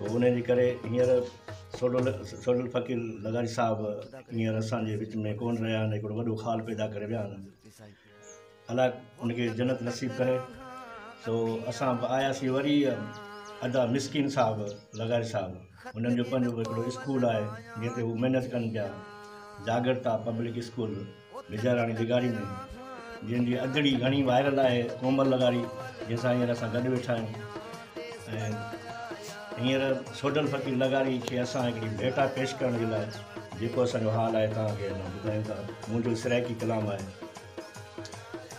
انهيء جي ڪري هينئر سوڍو سوڍل فقير لغاري صاحب هينئر اسان جي وچ ۾ ڪونه رهيا آهن هڪڙو وڏو خال پيدا ڪري ويا آهن الاء ان کي جنت نصيب ڪري سو اسان به آياسين وري ادا مسڪين صاحب لغاري صاحب انهن جو پنهنجو هڪڙو اسڪول آهي جنهن تي هو محنت ڪن پيا جاڳرتا پبلڪ اسڪول بيجاراڻي لغاري ۾ جنهن جي ادڙي گهڻي وائرل آهي ڪومل لغاري جنهن سان هينئر اسان گڏ ويٺا آهيون ۽ هينئر سوڍل فقير لغاري کي اسان هڪڙي ڀيٽا پيش ڪرڻ جي لاء جيڪو اسان جو حال آهي توهان کي اسان ٻڌايون ٿا منهنجو سرائيڪي ڪلام آهي